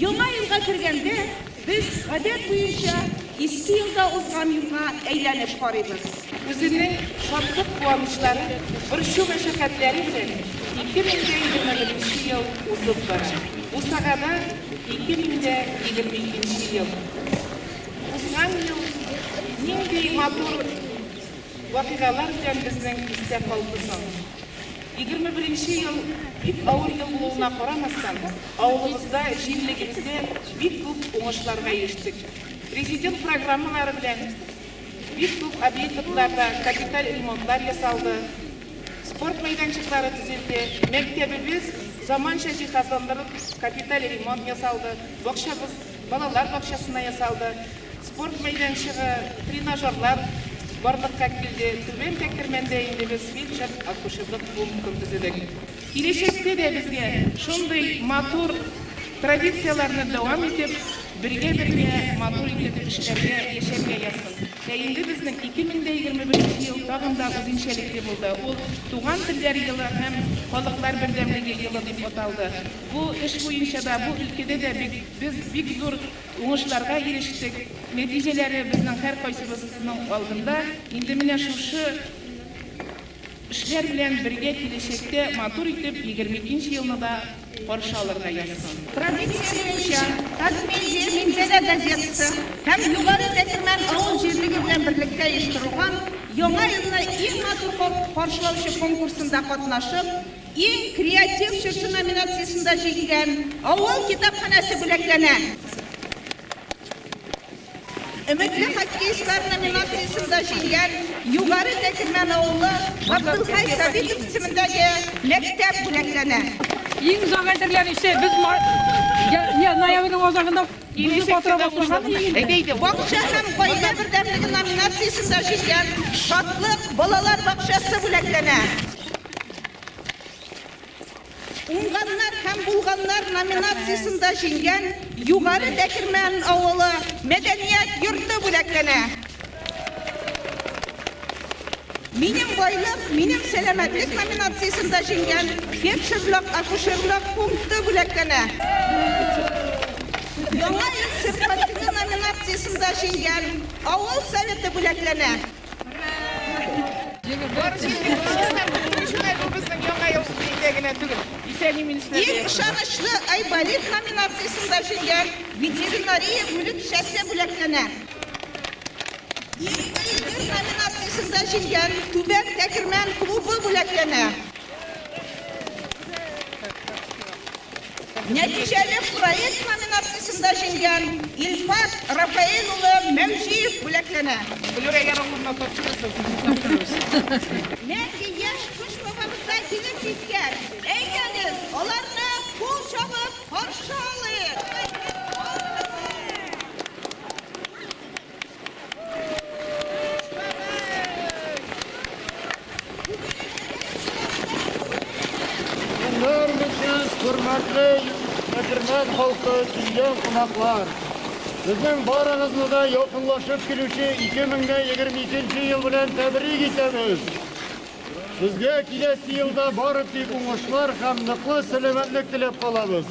Яңа елга кергәндә, без, гадәт буенча, Иске елда узган юлга әйләнеп карыйбыз. Үзенең шатлык-куанычлары, борчу-мәшәкатьләре белән 2021 ел узып бара. Бусагада 2022 ел. Узган ел нинди матур вакыйгалар белән безнең истә калды соң? Егерме беренче ел бик авыр ел булуына карамастан, авылыбызда җирлегемездә бик күп уңышларга ирештек. Президент программалары белән бик күп объектларда капиталь ремонтлар ясалды, спорт мәйданчыклары төзелде, мәктәбебез заманча җиһазландырылып капиталь ремонт ясалды, бакчабыз балалар бакчасына ясалды. Спорт мәйданчыгы, тренажерлар барлыкка килде. Түбән Тәкермәндә инде без фельдшер-акушерлык пунктын төзедек. Киләчәктә дә безгә шундый матур традицияләрне дәвам итеп, бергә-бергә матур итеп эшләргә, яшәргә язсын. Ә инде безнең 2025 ел тагын да үзенчәлекле булды. Ул Туган телләр елы һәм Халыклар бердәмлеге елы дип аталды. Бу эш буенча да, бу өлкәдә дә без бик зур Уңышларга ирештек, нәтиҗәләре безнең һәркайсыбызның алдында. Инде менә шушы эшләр белән бергә киләчәктә матур итеп егерме икенче елны да каршы алырга язсын. Традиция буенча, Татмедиа Минзәлә газетасы һәм Югары Тәтемән авыл җирлеге белән берлектә оештырылган Яңа елны иң матур каршылаучы конкурсында катнашып, Иң креатив чыршы номинациясендә җиңгән авыл китапханәсе бүләкләнә. Өметле хоккеистлар номинациясендә җиңгән Югары Тәкермән авылы Габдулхай Сабитов исемендәге мәктәп бүләкләнә. Иң зур әзерләнүче без ноябрьнең азагында Бөек Батыр башланган инде. Бакча һәм гаилә бердәмлеге номинациясендә җиңгән Шатлык балалар бакчасы бүләкләнә. Уңганнар һәм булганнар номинациясендә җиңгән Югары Дәкермән авылы мәдәният йорты бүләкләнә. Минем байлык, минем сәламәтлек номинациясендә җиңгән фельдшерлык, акушерлык пункты бүләкләнә. Яңа ел сөрпризлы номинациясендә җиңгән авыл советы бүләкләнә. Иң ышанычлы Айболит номинациясендә җиңгән ветеринария бүлекчәсе бүләкләнә. Иң өлкән номинациясендә җиңгән Түбән Тәкермән клубы бүләкләнә. Нәтиҗәле проект номинациясендә җиңгән Илфат Рафаэль улы Мәүҗиев бүләкләнә. Нәти яшь кыш бабабызга килеп җиткән. Әйдәгез, аларны кул чабып каршы алыйк. хөрмәтле Әкермән халкы, килгән кунаклар. Безнең барыгызны да якынлашып килүче 2022 ел белән тәбрик итәбез. Сезгә киләсе елда бары тик уңышлар һәм ныклы сәламәтлек теләп калабыз.